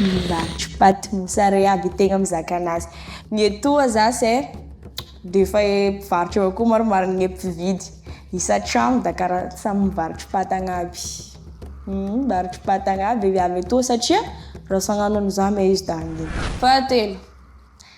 Milatro paty mosary iaby tegna mizaka anazy, ny etoa za se defa e mpivarotry avao koa maromaro gne mpividy, isan-tragno da karaha samy mivarotry paty agny aby, mivarotry paty agny aby e viavy etoa satria raha sy agnano an'izany moa izy da hanino. Fahatelo.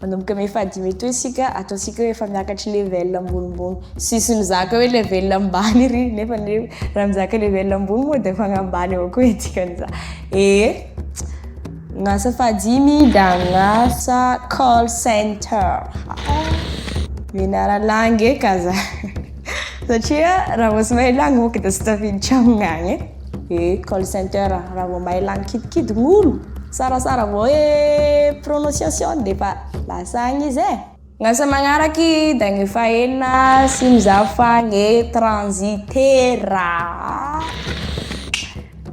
Manomboka may faha dimy etoa isika, ataontsika hoe efa miakatry level ambonimbony. Tsisy mizaka hoe level ambany ry nefa anie raha mizaka level ambony moa dia fagnahy ambany avao koa dikan'izany. Ee, gn'asa faha dimy dia agn'asa call center. Mianara langue eka za satria raha vao tsy mahay langue manko dia tsy tafiditra amign'agny e. Eh call center a, raha vao mahay lany kidikidy ny olo, sarasara vao hoe prononciation defa lasa agny izy eh. Ny asa magnaraky da ny fahenina sy ny za fa gne transitaire ah!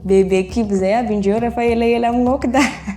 Bebe kibo zay aby indreo rehefa elaela mignoky da.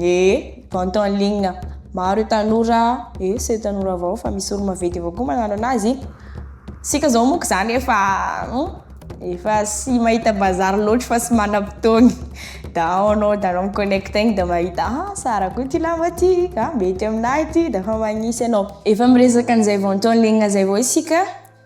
Ye vente en ligne maro e tanora e sy tanora avao fa misy olo maventy avao koa magnano anazy, isika zao moa ko zany efa efa sy mahita bazary loatry fa sy manam-potoagny da ao anao da anao mi-connecte egny da mahita ha sara koa ty lamba ty ka mety aminah ty da efa magnisy anao, efa miresaka an'izay vente en ligne zay avao isika.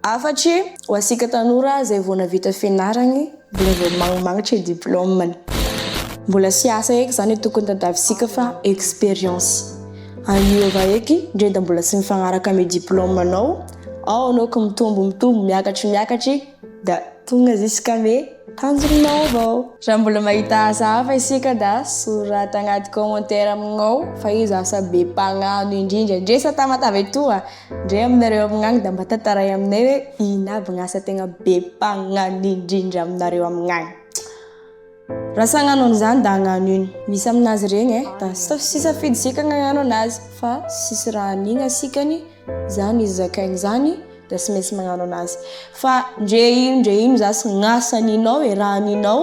Afatry ho asika tanora izay vao navita fianarany, mbola vao magnimagnitra ny diplaomany. Mbola tsy asa eky izany tokony tadiavintsika fa expérience. Aniova eky ndre da mbola tsy mifagnaraka amin'ny diplaomanao, ao anao ko mitombo mitombo miakatry miakatry da tonga ziskame tanjonao avao. Raha mbola mahita asa hafa isika da soraty agnaty commentaire amignao fa iza asa be mpagnano indrindra ndre sa tamatave toa? Ndrey aminareo amign agny da mba tantaray aminay hoe ino aby gny asa tegna be mpagnano indrindra aminareo amign agny? Raha tsy hagnano an'izany da hagnano ino? Misy aminazy regny e, da tsy safidy isika ny hagnano anazy fa tsisy raha hanigny asikany zany izy zakaigny zany da tsy maintsy magnano anazy fa ndre ino ndre ino zany tsy gn'asa haninao e, raha haninao.